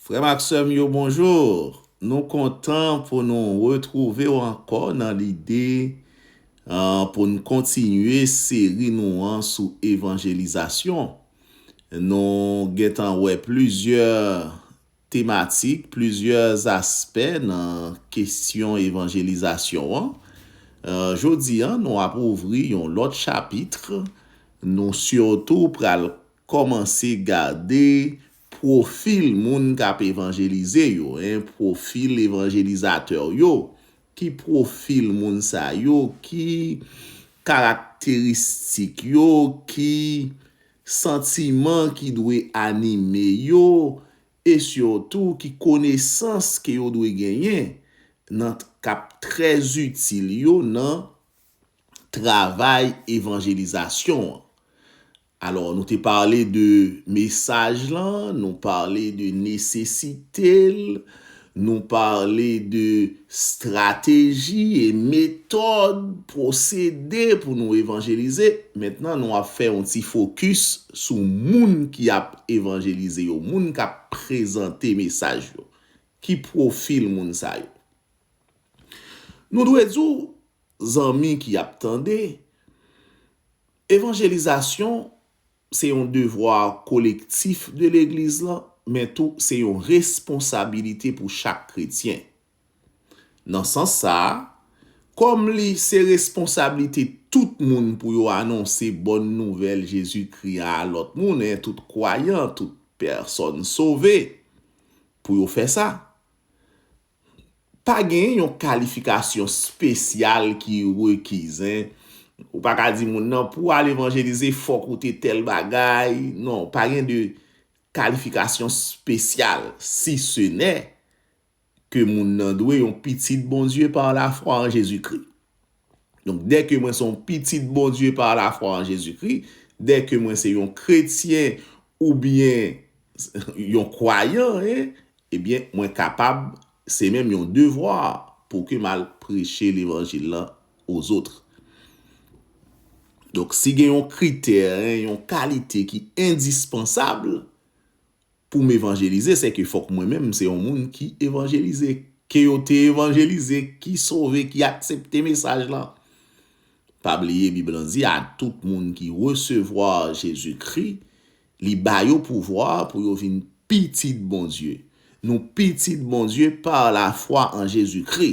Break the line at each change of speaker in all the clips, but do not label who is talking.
Frè m ak sè m yo bonjour! Nou kontan pou nou retwouve w ankò nan lide pou n kontinye seri nou an sou evanjelizasyon. Nou gentan wè plizyè tematik, plizyè aspè nan kesyon evanjelizasyon an. Jodi an nou ap ouvri yon lòt chapitre, nou sitou pral Kòmanse gade pwofil moun k ap evanjelize yo, en, pwofil evanjelizatè w yo. Ki pwofil moun sa yo? Ki karakteristik yo? Ki santiman ki dwe anime yo? E sitou, ki konesans ke yo dwe genyen nan k ap trè itil yo nan travay evanjelizasyon an? Alò nou te pale de mesaj lan, nou pale de nesesite l, nou pale de strateji e metòd, pwosede pou nou evanjelize. Mentnan nou ap fè yon ti fokis sou moun ki ap evanjelize yo, moun k ap prezante mesaj yo. Ki pwofil moun sa yo? Nou dwe di w, zanmi ki ap tande, Evanjelizasyon se yon devwa kolektif de Legliz lan, men tou se yon responsabilite pou chak kretyen. Nan sans sa a, kòm li se responsablite tout moun pou yo anonse bòn nouvèl Jezikri a a lòt moun e tout kwayan, tout pèsòn sove, pou yo fè sa. Pa gen yon kalifikasyon spesyal ki rekizen, ou pa ka di moun nan pou al evanjelize fòk ou te tèl bagay, non, pa gen de kalifikasyon spesyal, si se nè ke moun nan dwe yon pitit Bondye par la fwa an Jezikri. Donk, dèke mwen se yon pitit Bondye pa lafwa an Jezikri, dèke mwen se yon kretyen oubyen yon kwayan, ebyen, mwen kapab, se menm yon devwa pou ke m al preche levanjil lan ozotre. Donk, si gen yon kritè, yon kalite ki endispansab, Pou m evanjelize, se ke fòk mwen menm m se yon moun ki evanjelize, ke yo te evanjelize, ki sove, ki aksepte mesaj lan. Pa bliye Bib lan di a tout moun ki resevwa Jezikri, li ba yo pouvwa pou yo vin pitit Bondye. Nou pitit Bondye pa lafwa an Jezikri,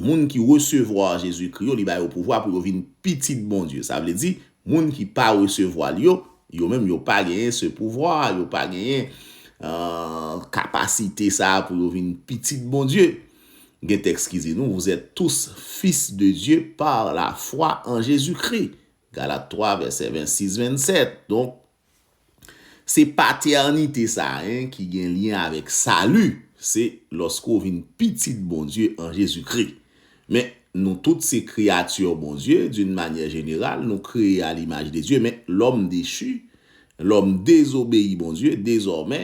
Moun ki resevwa Jezikri yo, li ba yo pouvwa pou yo vin pitit Bondye. Sa vle di, moun ki pa resevwa l yo, yo menm yo pa genyen se pouvwa a, yo pa genyen kapasite sa a pou yo vin pitit Bondye. Gen tèks ki di nou, vous êtes tous fils de Dieu par la foi en Jésus-Christ. Galat 3, vèsè 26, 27. Donk, Se patènite sa a en ki gen lyen avèk sali, se lòske w vin pitit Bondye an Jezi Kri. Men, nou tout se kreyati Bondye, d'une manière générale, nou kreye a l'image de Dieu, men lòm dechu, lòm dezobeyi Bondye, dezòmè,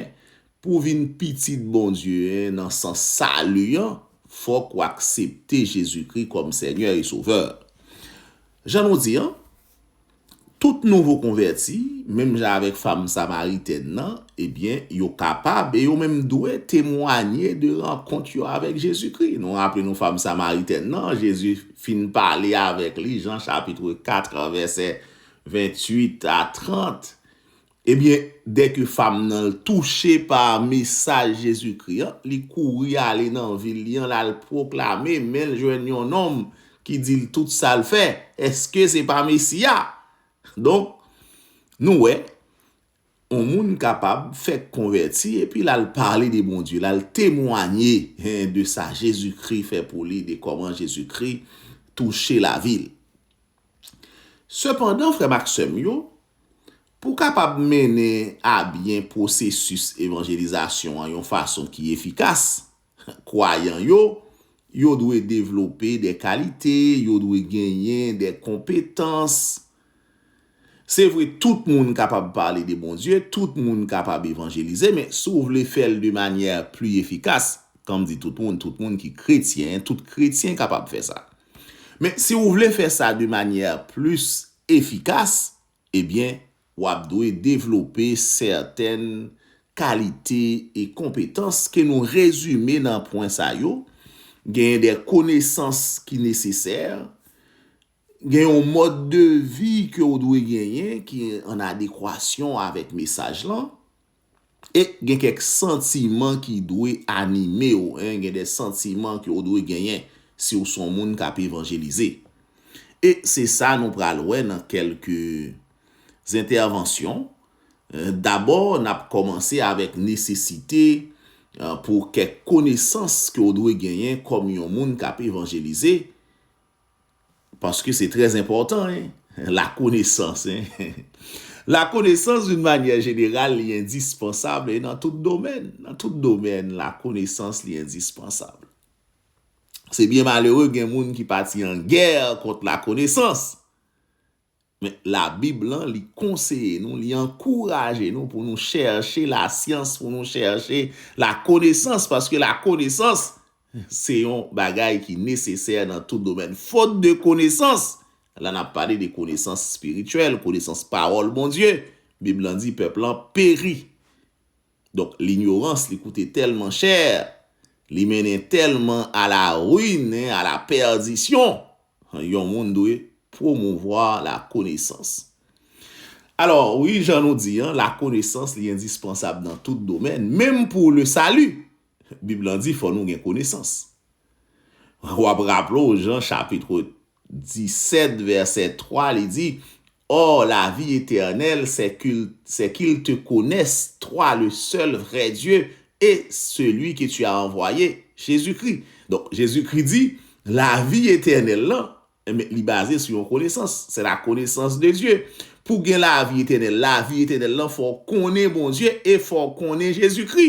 pou w vin pitit Bondye en nan sans sali an, fòk w aksepte Jezi Kri kòm Senyè e Sovè. Jan nou di an, Tout nouvo konvèti, menm jan avèk fanm samaritèn nan, ebyen, yo kapab e yo menm dwe temwanye de rankont yo avèk Jezikri. Nou raple nou fanm samaritèn nan, Jezi fin pale avèk li, Jan chapitre 4 vèsè 28 a 30, Ebyen, dèke fam nan l touche pa mesaj Jezikri an, li kouri ale nan vil li an, l al pwoklame, men l jwenn yon nonm ki di l tout sa l fè, Èske se pa Mesi a? Donk, nou wè, yon moun kapab fèk konvèti epi l al pale de Bondye, l al temwanye de sa Jezikri fè pou li, de kòman Jezikri touche lavi l. Sepandan, frè m ak sè m yo, pou w kapab mennen abyen pwosesis evanjelizasyon an yon fason ki efikas, kwayan yo, yo dwe devlope de kalite, yo dwe genyen de konpetans. Se vre, tout moun kapab pale de Bondye, tout moun kapab evanjelize, men si w vle fè l de manyè pli efikas, kan m di tout moun, tout moun ki kretyen, tout kretyen kapab fè sa. Men si ou vle fè sa de manyè plis efikas, ebyen w ap dwe devlope sèten kalite e konpetans ke nou rezime nan pwen sa yo, genyen de konesans ki nesesè, gen yon mòd de vi ke ou dwe genyen ki an adekwasyon avèk mesaj lan, E gen kèk santiman ki dwe anime w. Gen de santiman ke w dwe genyen si w son moun k ap evanjelize. E se sa nou pral wè nan kèlke zentèvansyon. Dabò, n ap kòmanse avèk nesesite pou kèk konesans ke w dwe genyen kòm yon moun k ap evanjelize. Paske se trè enpòtan hein. La konesans hein. La konesans d'une manyè jeneral li endispansab e nan tout domèn. Nan tout domèn la konesans li endispansab. Se byen malere gen moun ki pati an gè kont la konesans. Men, Labib lan, li konseye nou, li ankouraje nou pou nou chèche lasyans, pou nou chèche lakonesans, paske lakonesans se yon bagay ki nesesè nan tout domèn. Fot de konesans, la n ap pale de konesans espirityèl, konesans Pawòl Bondye, Bib lan di pèp lan peri. Donk linyorans li koute tèlman chè, li mennen tèlman a la ruin e a la pèdisyon, yon moun dwe pwomouvwa la konesans. Alò, wi jan nou di an, la konesans li endispansab nan tout domèn, menm pou le sali! Bib lan di fò nou gen konesans. W ap raple w jan chapit 17, vèsè 3, li di, Or, la vi etènèl, sè kil te konès, twa, le sèl vrè Dye, e seli ke ti a anvwaye, Jezikri. Donk, Jezikri di, la vi etènèl lan, enben, li baze sou yon konesans, sè la konesans de Dye. Pou gen la vi etènèl, la vi etènèl lan fò w konnen Bondye e fò w konnen Jezikri.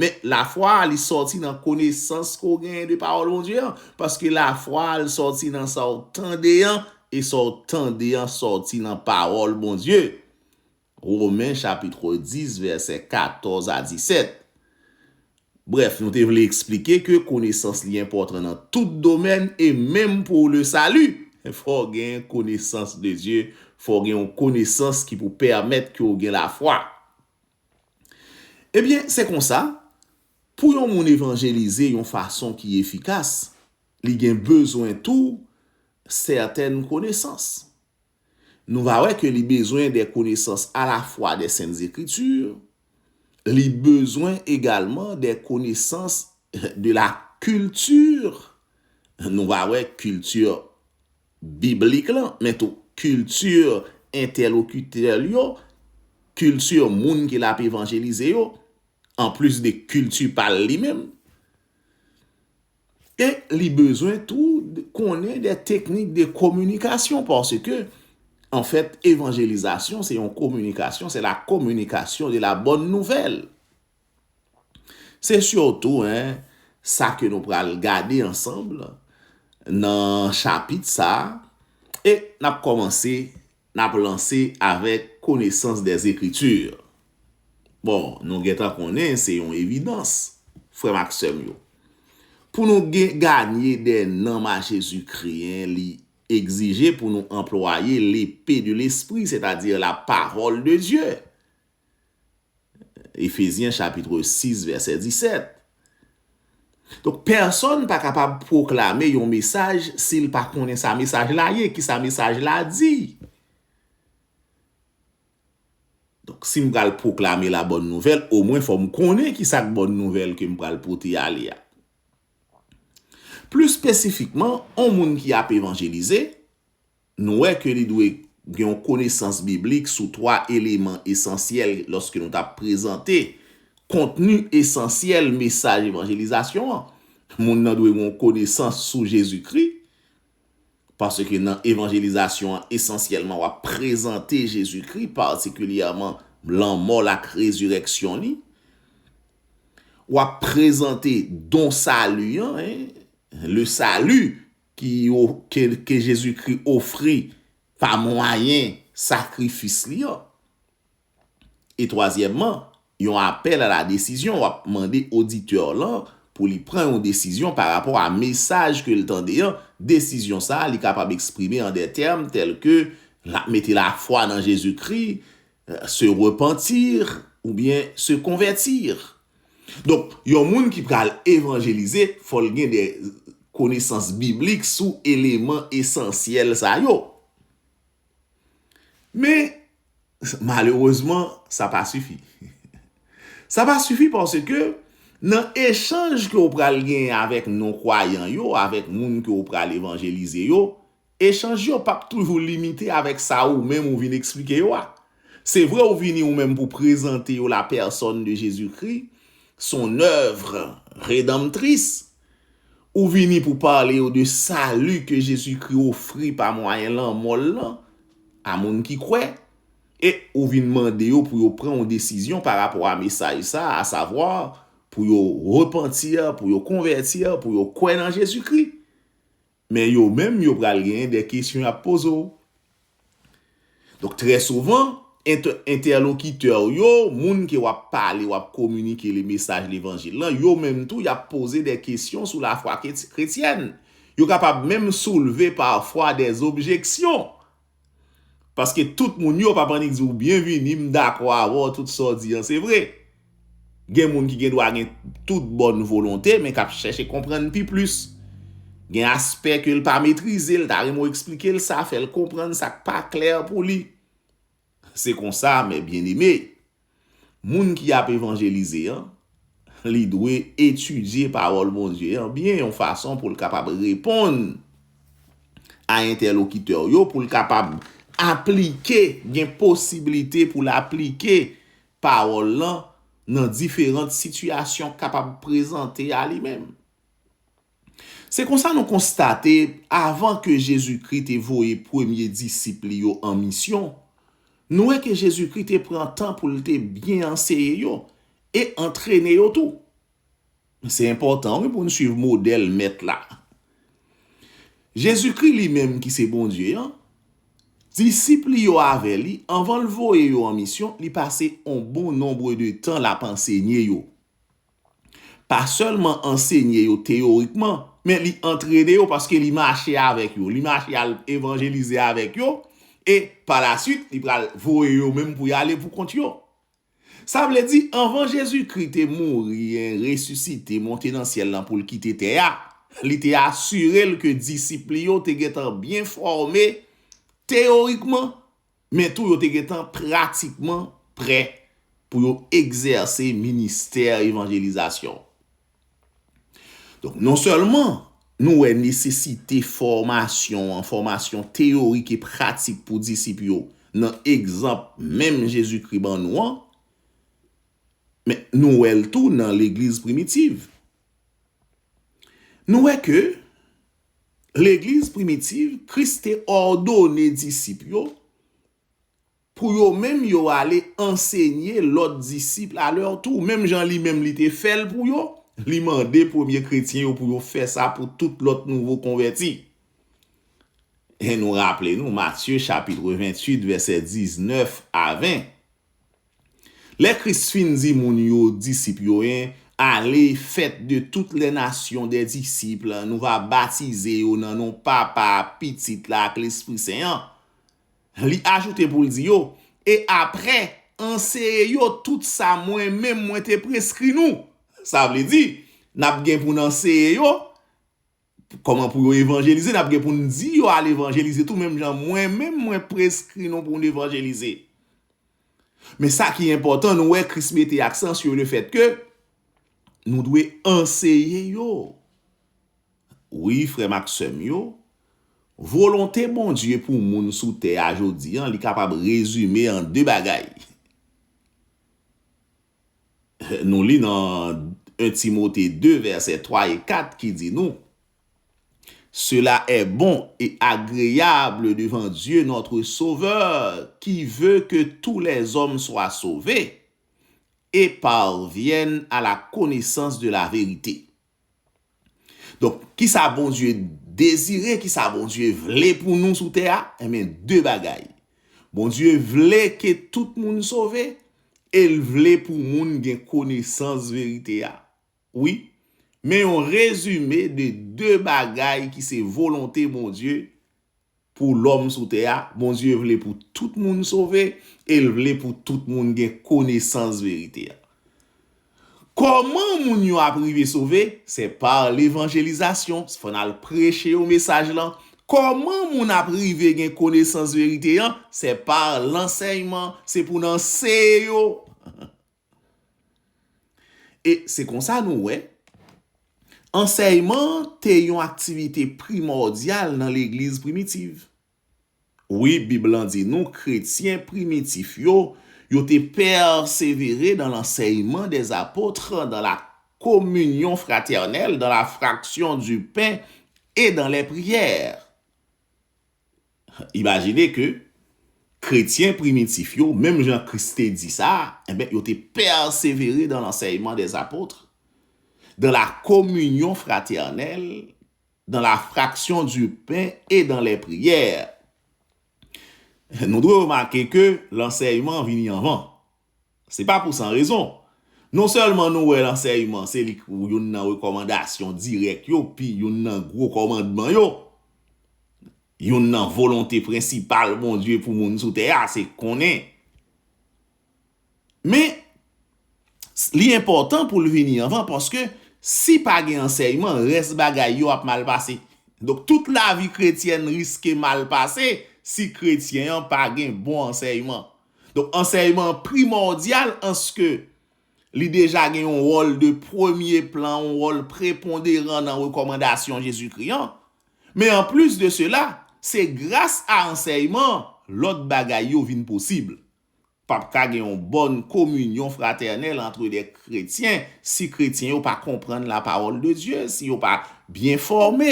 Men, lafwa a, li sòti nan konesans ke w genyen de pawòl Bondye an, paske lafwa a, l sòti nan sa w tande an, e sa w tande an sòti nan pawòl Bondye. Romen chapitre 10 vèsè 14 a 17. Brèf, nou te vle eksplike ke konesans li enpòtan nan tout domèn e menm pou le sali, fò w gen konesans de Dye, fò w gen yon konesans ki pou pèmèt ke w gen lafwa. Ebyen, se konsa, pou yon moun evanjelize yon fason ki efikas, li gen bezwen tou sèten konesans. Nou va wè ke li bezwen de konesans alafwa de Sent Zekriti, li bezwen egalman de konesans de la kilti, nou va wè kilti biblik lan, men tou kilti entèlokitè l yo, kilti moun ke l ap evanjelize yo, anplis de kilti pa l li menm. E li bezwen tou konnen de teknik de kominikasyon, paske, anfèt, evanjelizasyon se yon kominikasyon, se la kominikasyon de la bòn nouvèl. Se sitou en sa ke nou pral gade ansanm nan chapit sa a, e n ap kòmanse, n ap lanse avèk konesans des Écritures. Bon, nou gen tan konnen se yon evidans, frè m ak sè m yo. Pou nou gen ganye dè nanm a Jezikri en, li egzije pou nou anplwaye lepe de lespri, sètadi la pawòl de Dye. Efezyen chapitre 6 vèsè 17. Donk pèsòn pa kapab pwoklame yon mesaj si l pa konnen sa mesaj la ye, ki sa mesaj la di. Donk si m pral pwoklame la bòn nouvèl, omwen fò m konnen ki sa k bòn nouvèl ke m pral pote ale a. Plis spesifikman, yon moun ki ap evanjelize, Nou wè ke li dwe gen yon konesans biblik sou twa eleman esansyèl lòske nou ta prezante kontni esansyèl mesaj evanjelizasyon an. Moun nan dwe gen yon konesans sou Jezikri, paske nan evanjelizasyon an esansyèlman w ap prezante Jezikri, patikilyèman lanmò l ak rezirèksyon li. W ap prezante don sali an, le salut, Ki yo ke, ke Jezikri ofri pa mwayen sakrifis Li an. E twazyèmman, yon apèl a la desizyon, w ap mande oditè w lan pou li pran yon desizyon pa rapò a mesaj ke l tande an, desizyon sa a li kapab eksprime an dè tèm tèlke l ap mete lafwa nan Jezikri, Se repentir oubyen se convertir. Donk, yon moun ki pral evanjelize, fò l gen de konesans biblik sou eleman esansyèl sa yo. Men, malerezman, sa pa sifi. Sa pa sifi paske nan echanj ke w pral genyen avèk non-kwayan yo, avèk moun ke w pral evanjelize yo, Echanj yo pap toujou limite avèk sa ou menm ou vin eksplike yo a. Se vre ou vini ou menm pou prezante yo la pèsòn de Jezikri, son èvr redanmtris, ou vini pou pale yo de sali ke Jezikri ofri pa mwayen lanmò l lan a moun ki kwè, e ou vin mande yo pou yo pran yon desizyon pa rapò a mesaj sa a, asavwa, pou yo repentir, pou yo konvètir, pou yo kwè nan Jezikri. Men yo menm yo pral genyen de kesyon y ap poze w. Donk trè souvan, entèlokitè w yo, moun ke w ap pale, w ap kominike le mesaj levanjil lan, yo menm tou y ap poze de kesyon sou lafwa kretyèn. Yo kapab menm soulve pafwa de objeksyon Paske tout moun yo pap annik di w byenvini m dakò avè w tout sa w di an se vre. Gen moun ki gen dwa gen tout bòn volonte men k ap chèche konprann pi plis. Gen aspè ke l pa metrize l ta renmen w eksplike l sa fè l konprann sa k pa klè pou li. Se konsa mè byeneme. moun ki ap evanjelize an, li dwe etidye Pawòl Bondye an byen yon fason pou l kapab reponn a entèlokitè w yo, pou l kapab aplike, gen posiblite pou l aplike pawòl lan nan diferant sitiyasyon k kapab prezante a li menm. Se konsa nou konstate, avan ke Jezikri te voye premye disip li yo an misyon, nou wè ke Jezikri te pran tan pou l te byen anseye yo e antrene yo tou. Se enpòtan wi pou n suiv modèl Mèt la. Jezikri li menm ki se Bondye an, disip li yo avè li, anvan l voye yo an misyon, li pase yon bon nonbre de tan l ap ansenye yo. pa sèlman ansenye yo teyorikman, men li antrene yo paske li mache avèk yo, li mache al evanjelize avèk yo, e palasuit li pral voye yo menm pou y ale poukont yo. Sa vle di, anvan Jezikri te mouri, resisite, monte nan syèl la pou l kite tè a, li te asire l ke disip li yo te gentan byen fòme teyorikman men tou yo te gentan pratikman prè pou yo egzèse ministè evanjelizasyon. Donk, nonsèlman nou wè nesesite fòmasyon an, fòmasyon teyorik e pratik pou disip yo nan egzanp menm Jezikri ban nou an, men nou wè l tou nan legliz primitiv. Nou wè ke Legliz primitiv, Kris te òdone disip yo pou yo menm yo ale ansenye lòt disip a lè tou. Menm jan li menm li te fè l pou yo, li mande premye kretyen yo pou yo fè sa pou tout lòt nouvo konvèti. E nou raple nou Matye chapitre 28 vèsè 19 a 20. Lè Kris fin di moun yo disip yo 1 Ale, fèt de tout lè nasyon dè disip, nou va batize yo nan non Papa a, Pitit la ak Lespri Sen an. Li ajoute pou l di yo, E apre, anseye yo tout sa mwen menm mwen te preskri nou. Sa vle di, n ap gen pou n anseye yo, Kòman pou yo evanjelize, n ap gen pou n di yo al evanjelize tou menm jan mwen menm mwen preskri nou pou n evanjelize. Men sa ki enpòtan, nou wè Kris mete aksan sou lefètke nou dwe anseye yo, wi frè m ak sè m yo, volonte Bondye pou moun sou tè a jodi an li kapab rezime an de bagay. Nou li nan 1 Timote 2 vèsè 3 e 4 ki di nou, Sela è bon e agreyab devan Dye nòtre Sovè ki ve ke tou lèzòm swa sove e parvyèn a la konesans de laverite. Donk, ki sa Bondye dezire, ki sa Bondye vle pou nou sou tè a? Enben, de bagay. Bondye vle ke tout moun sove e l vle pou moun gen konesans verite a. Wi, men yon rezime de de bagay ki se volonte Bondye pou lòm sou tè a, Bondye vle pou tout moun sove e l vle pou tout moun gen konesans verite a. Kòman moun yo ap rive sove? Se pa levanjelizasyon, se fò n al preche yo mesaj lan. Kòman moun ap rive gen konesans verite an? Se pa lansèyman, se pou n anseye yo. E se konsa nou wè, ansèyman te yon aktivite primòdyal nan legliz primitiv. Wi, Bib lan di nou kretyen primitif yo, yo te pèsevere nan lansèyman dè apotre, dan la kominyon fratènèl, dan la fraksyon di pen e dan lè priyè. Imajine ke kretyen primitif yo, menm jan Kris te di sa, enben, yo te pèsevere dan lansèyman dè apotre, dan la kominyon fratènèl, dan la fraksyon di pen e dan lè priyè. Nou dwe remake ke lansèyman vini anvan. Se pa pou san rezon. Non sèlman nou wè lansèyman se li k youn nan rekòmandasyon dirèk yo pi youn nan gwo kòmandman yo. Youn nan volonte prensipal Bondye pou moun sou tè a se konnen. Men, li enpòtan pou l vini anvan paske si pa gen ansèyman, rès bagay yo ap mal pase. Donk, tout lavi kretyèn riske mal pase si kretyen an pa gen bon ansèyman. Donk ansèyman an primòdyal anske li deja gen yon wòl de premye plan, yon wòl preponderan nan rekòmandasyon Jezikri an. Men anplis de sela, se gras a ansèyman an lòt bagay yo vin posib. Pa p ka gen yon bòn kominyon fratènèl antre de kretyen si kretyen yo pa konprann lapawòl de Dye, si yo pa byen fòme.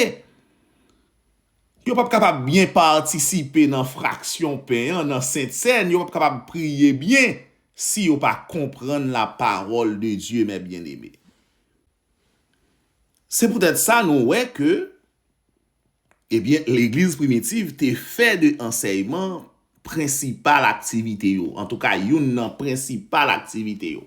Yo p ap kapab byen patisipe nan fraksyon pen an nan sentsèn, yo p ap kapab priye byen si yo pa konprann lapawòl de Dye, mè byeneme. Se poutèt sa nou wè ke, ebyen, legliz primitiv te fè de ansèyman prensipal aktivite yo, antouka youn nan prensipal aktivite yo.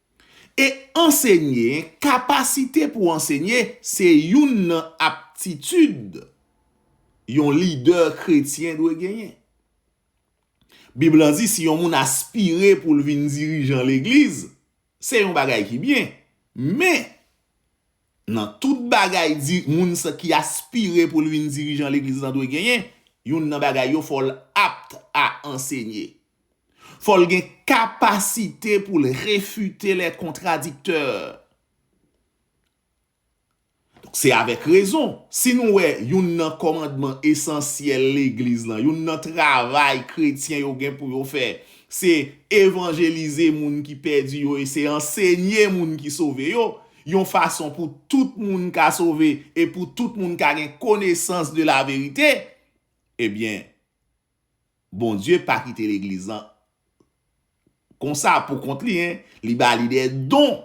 E ansenye, kapasite pou ansenye, se youn nan aptitid yon lidè kretyen dwe genyen. Bib la di si yon moun aspire pou l vin dirijan legliz, se yon bagay ki byen. Men, nan tout bagay moun ki aspire pou l vin dirijan legliz la dwe genyen, youn nan bagay yo fò l apt a ansenye. Fò l gen kapasite pou l refite lè kontradiktè. Donk se avèk rezon, si nou wè youn nan kòmandman esansyèl legliz lan, youn nan travay kretyen yo gen pou yo fè, se evanjelize moun ki pèdi yo e se ansenye moun ki sove yo, yon fason pou tout moun ka sove e pou tout moun ka gen konesans de laverite, ebyen, Bondye pa kite legliz lan konsa pou kont li hein, li ba li des dons.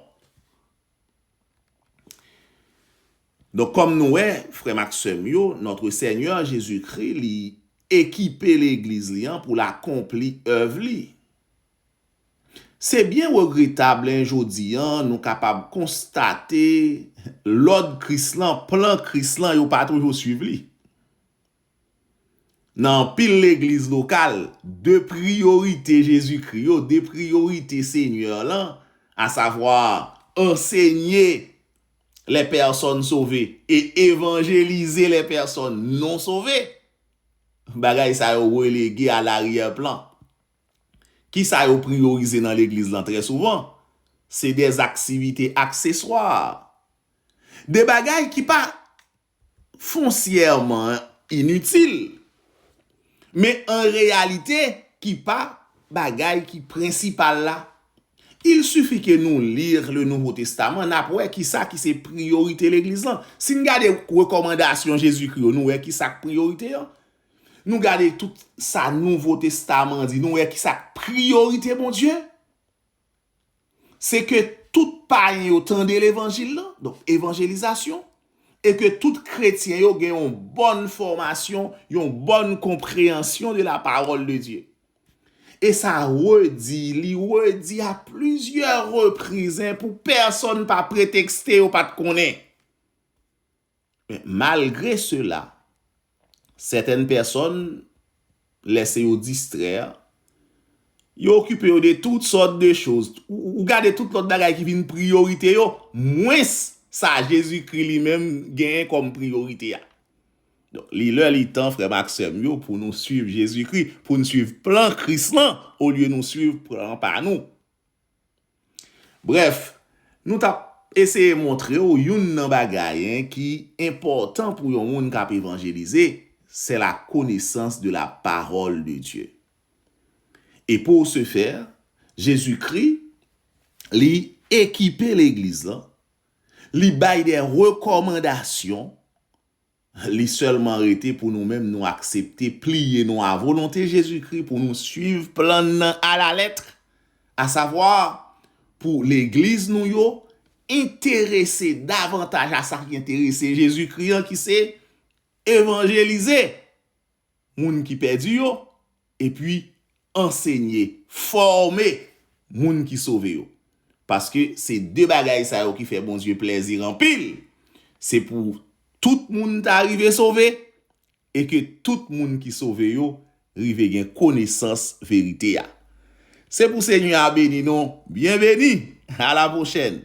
Donk kòm nou wè frèm ak sèm yo, notre Seigneur Jésus Christ li ekipe legliz li an poul akonpli èv li. Se byen regretab len jodi an nou kapab konstate lòd Kris lan, plan Kris lan yo pa toujou swiv li. Nan anpil legliz lokal, de priyorite Jezikri yo, de priyorite Senyè lan, asavwa, ansenye lè pèsòn sove e evanjelize lè pèsòn non sove, bagay sa yo relege a laryè plan. Ki sa yo priyorize nan legliz lan trè souvan? Se dè aktivite akseswa, de bagay ki pa. fonsyèman initil, men an reyalite ki pa bagay ki prensipal la. Il suffit que nou lire le Nouveau Testament, n ap wè kisa ki se priyorite legliz lan. Si n gade rekòmandasyon Jezikri yo, nou wè kisa k priyorite an. Nou gade tout sa Nouvo Testaman di, nou wè kisa k priyorite Bondye. se ke tout payen yo tande levanjil lan, donk evanjelizasyon, e ke tout kretyen yo gen yon bòn fòmasyon, yon bòn konpreyansyon de la pawòl de Dye. E sa redi, li redi a plizyè reprizen pou pèsòn pa pretekste yo pa t konnen. Men, malgre sela, sètèn pèsòn lèse yo distrè, yo okipe yo de tout sòt de choz, ou gade tout lòt bagay ki vin priyorite yo, mwens sa Jezikri li menm genyen kòm priyorite a. Donk, li lè li tan, frè m ak sè m yo, pou nou suiv Jezikri, pou n suiv plan Kris lan, olye nou suiv plan pa nou. Brèf, nou t ap eseye montre w youn nan bagay 1 ki enpòtan pou yon moun k ap evanjelize, c'est la connaissance de la parole de Dieu. Et pour ce faire, Jésus-Christ, li ekipe legliz lan, li bay des recommandations, Li sèlman rete pou nou menm nou aksepte pliye nou a volonte Jezikri pou nou suiv plan n nan alaletr, asavwa, pou legliz nou yo enterese davantaj a sa ki enterese Jezikri an ki se evanjelize. moun ki pèdi yo, epi ansenye, fòme, moun ki sove yo. Paske se de bagay sa yo ki fè Bondye plèzi anpil, se pou tout moun ta rive sove, e ke tout moun ki sove yo rive gen konesans verite a. Se pou Senyè a beni nou! Byenveni! Alapwochèn!